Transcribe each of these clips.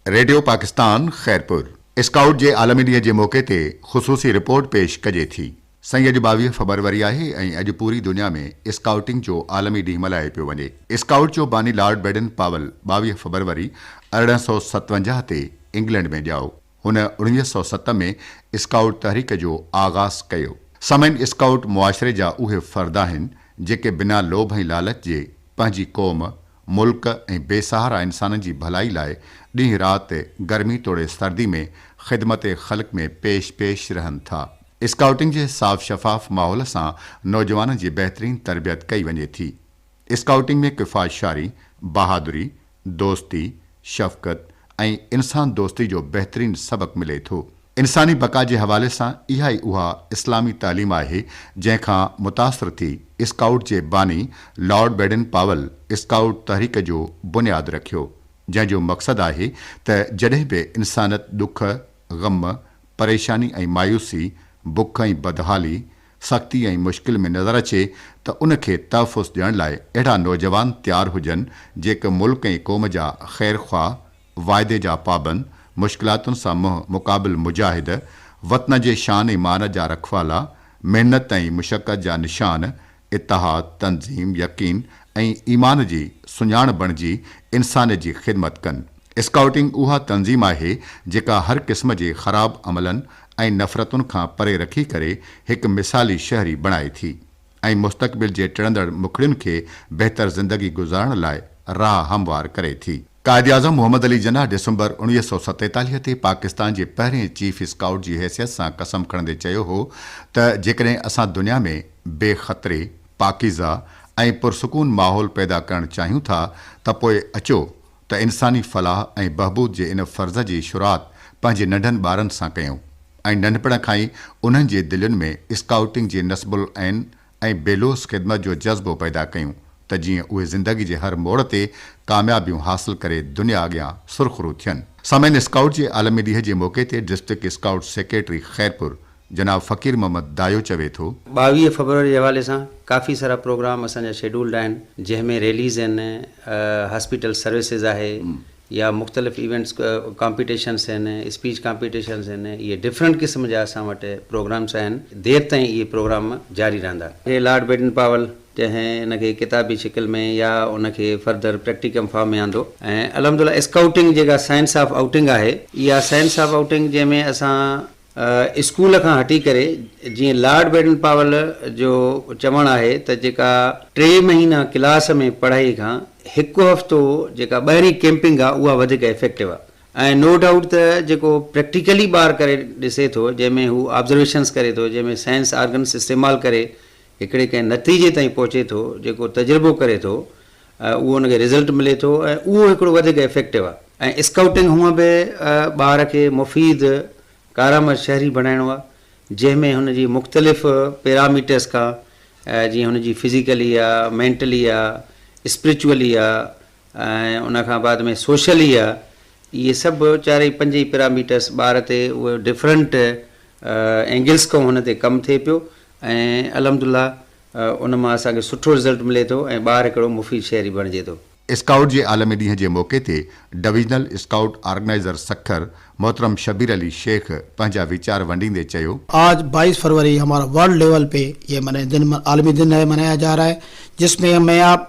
Radio Pakistan Khairpur scout جي عالمي ڏينهن جي موقعي تي خصوصي رپورٽ پيش ڪجي ٿي. سائين اڄ ٻاويهه فبروري آهي ۽ اڄ پوري دنيا ۾ اسڪائوٽنگ جو عالمي ڏينهن ملهايو پيو وڃي. اسڪائوٽ جو باني لارڊ بيڊن پاول ٻاويهه فبروري ارڙهن سؤ ستونجاهه تي انگلنڊ ۾ ڄائو. هن اڻويهه سؤ ست ۾ اسڪائوٽ تحريڪ جو آغاز ڪيو. سامعين اسڪائوٽ معاشري جا اهي فرد آهن جيڪي بنا لوڀ ۽ لالچ جي پنهنجي قوم، ملڪ ۽ بي سهارا انسانن جي ڀلائي لاء ڏينهن رات گرمي توڙي سردي ۾ خدمت خلق ۾ پيش پيش رهن ٿا. اسڪائوٽنگ جي صاف شفاف ماحول سان نوجوانن جي بهترين تربيت ڪئي وڃي ٿي. اسڪائوٽنگ ۾ ڪفاشاري، بهادري، دوستي، شفقت ۽ انسان دوستي جو بهترين سبق ملي ٿو. انساني بقا جي حوالي سان اها ئي اها اسلامي تعليم آهي جنهن کان متاثر ٿي اسڪائوٽ جي باني لارڊ بيڊن پاول اسڪائوٽ تحريڪ جو بنياد رکيو جنهن جو مقصد آهي ته جڏهن به انسانت ڏک، غم، پريشاني ۽ مايوسي، بک ۽ بدحالي، سختي ۽ مشڪل ۾ نظر اچي ته ان کي تحفظ ڏيڻ لاء اهڙا نوجوان تيار هجن جيڪ ملڪ ۽ قوم جا خير خواهه، واعدي جا پابند، مشڪلاتن سان منهن مقابل مجاهد، وطن جي شان ۽ مان جا رکوالا، محنت ۽ مشقت جا نشان، اتحاد، تنظيم، يقين ۽ ايمان جي سڃاڻ بڻجي انسانيت جي خدمت ڪن. اسڪائوٽنگ اها تنظيم آهي جيڪا هر قسم جي خراب عملن ۽ نفرتن کان پري رکي ڪري هڪ مثالي شهري بڻائي ٿي. ۽ مستقبل جي ٽڙندڙ مکڙين کي بهتر زندگي گذارڻ لاء راهه هموار ڪري ٿي. قائداعظم محمد علي جناح ڊسمبر اڻويهه سؤ ستيتاليهه تي پاڪستان جي پهرين چيف اسڪائوٽ جي حيثيت سان قسم کڻندي چيو هو ته جيڪڏهن اسان دنيا ۾ بي خطري، پاڪيزه ۽ پرسڪون ماحول پيدا ڪرڻ چاهيون ٿا ته پوء اچو ته انساني فلاح ۽ بهبود جي ان فرض جي شروعات پنهنجي ننڍن ٻارن سان ڪيون ۽ ننڍپڻ کان ئي انهن جي دلين ۾ اسڪائوٽنگ جي نصب العين ۽ بيلوس خدمت جو جذبو پيدا ڪيون ته جيئن اهي زندگي جي هر موڙ تي ڪاميابيون حاصل ڪري دنيا اڳيان سرخرو ٿين. سامعين اسڪائوٽ جي عالمي ڏينهن جي موقعي تي ڊسٽرڪٽ اسڪائوٽ سيڪريٽري خيرپور جناب فقير محمد دايو چوي ٿو. ٻاويهه فيبروري جي حوالي سان ڪافي سارا پروگرام اسان جا شيڊولڊ آهن جنهن ۾ ريليز آهن، هاسپيٽل سروسز آهي يا مختلف ايونٽس ڪامپيٽيشنس آهن، اسپيچ ڪامپيٽيشنس آهن اهي ڊفرنٽ قسم جا اسان وٽ پروگرامس آهن دير تائين اهي پروگرام جاري رهندا. جي لارڊ بيٽن پاول جنهن ان کي ڪتابي شڪل ۾ يا ان کي فردر پريڪٽيڪم فارم ۾ آندو ۽ الحمدلله اسڪائوٽنگ جيڪا سائنس آف آئوٽنگ آهي اها سائنس آف آئوٽنگ جنهن ۾ اسان اسڪول کان هٽي ڪري جيئن لارڊ بيڊن پاول جو چوڻ آهي ته جيڪا ٽي مهينا ڪلاس ۾ پڙهائي کان هڪ هفتو جيڪا ٻاهرين ڪيمپنگ آ اها وڌيڪ افيڪٽو آ ۽ نو ڊائوٽ ته جيڪو پريڪٽيڪلي ٻار ڪري ڏسي ٿو جنهن ۾ هو آبزرويشنس ڪري ٿو جنهن ۾ سائنس آرگنس استعمال ڪري هڪڙي ڪنهن نتيجي تائين پهچي ٿو جيڪو تجربو ڪري ٿو اهو ان کي رزلٽ ملي ٿو ۽ اهو هڪڙو وڌيڪ افيڪٽو آهي ۽ اسڪائوٽنگ هونء به ٻار کي مفيد ڪارآمد شهري بڻائڻو آهي جنهن ۾ هن جي مختلف پيراميٽرس کان جيئن هن جي فزيڪلي آهي مينٽلي آهي اسپريچولي آهي ۽ ان کان بعد ۾ سوشلي آهي اهي سڀ چارئي پنج ئي پيراميٽرس ٻار تي اهي ڊفرنٽ اينگلس کان هن تي ڪم ٿئي پيو ۽ الحمد لله ان مان اسان کي سٺو رزلٽ ملي ٿو ۽ ٻار هڪڙو مفيد شهري بڻجي ٿو. اسڪائوٽ جي عالمي ڏينهن جي موقعي تي ڊويزنل اسڪائوٽ آرگنائيزر سکر محترم شبير علي شيخ پنهنجا ويچار ونڊيندي چيو، آج بائيس فروری ھمارا ورلڊ ليول پي يي مني دن عالمي دن ھي منايا جا رھا ھي جس مي ھم مي آپ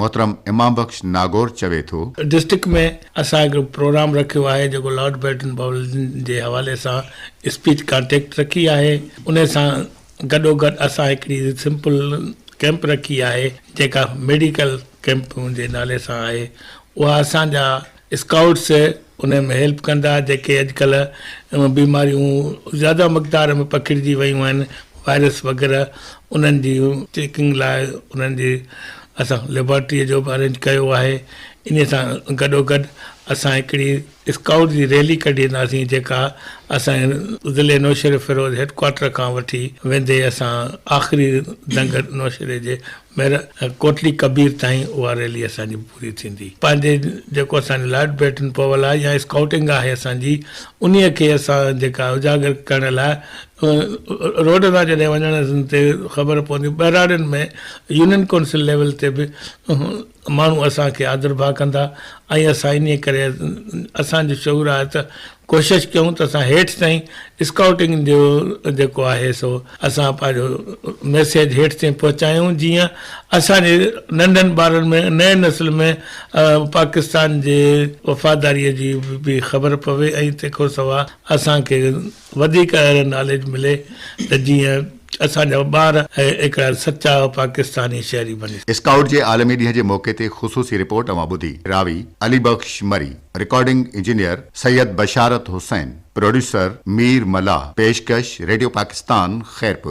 محترم امام بخش ناگور چوي ٿو. ڊسٽرڪٽ ۾ اسان هڪ پروگرام رکيو آهي جيڪو لارڊ بيٽن پاولزن جي حوالي سان اسپيچ ڪانٽيڪٽ رکي آهي انهي سان گڏو گڏ اسان هڪڙي سمپل ڪيمپ رکي آهي جيڪا ميڊيڪل ڪيمپ جي نالي سان آهي اها اسان جا اسڪائوٽس انهن ۾ هيلپ ڪندا جيڪي اڄڪلهه بيماريون زياده مقدار ۾ پکڙجي ويون آهن وائرس وغيره انهن جي چيڪنگ لاء انهن جي اسان ليبارٽري جو به ارينج ڪيو آهي انهي سان گڏو گڏ اسان هڪڙي اسڪائوٽ جي ريلي ڪڍينداسين جيڪا اسان ضلعي نوشهري فيروز هيڊ ڪوارٽر کان وٺي ويندي اسان آخري ننگر نوشهري جي مير ڪوٽلي ڪبير تائين اها ريلي اسان جي پوري ٿيندي. پنهنجي جيڪو اسان جي لارڊ بيٽن پوول آهي يا اسڪائوٽنگ آهي اسان جي انهي کي اسان جيڪا اجاگر ڪرڻ لاء روڊ تان جڏهن وڃڻ تي خبر پوندي ٻهراڙين ۾ يونين ڪونسل ليول تي به ماڻهو اسان کي آڌر ڀاء ڪندا ۽ اسان انهيء ڪري اسان جو شعور آهي ته ڪوشش ڪيون ته اسان هيٺ تائين اسڪائوٽنگ جو جيڪو آهي سو اسان پنهنجو ميسيج هيٺ تائين پهچايون جيئن اسان جي ننڍن ٻارن ۾ نئين نسل ۾ پاڪستان جي وفاداريء جي به خبر پوي ۽ تنهن کان سواء اسان کي وڌيڪ اهڙي ناليج ملي ته جيئن اسان جا ٻار ۽ هڪڙا سچا پاڪستاني شهري بني سگهن. اسڪائوٽ جي عالمي ڏينهن جي موقعي تي خصوصي رپورٽ اوهان ٻڌي، راوي، Ali Bakhsh Marri, recording engineer, Syed Basharat Hussain, producer, Mir ملاح، پيشڪش، ريڊيو پاڪستان، خيرپور.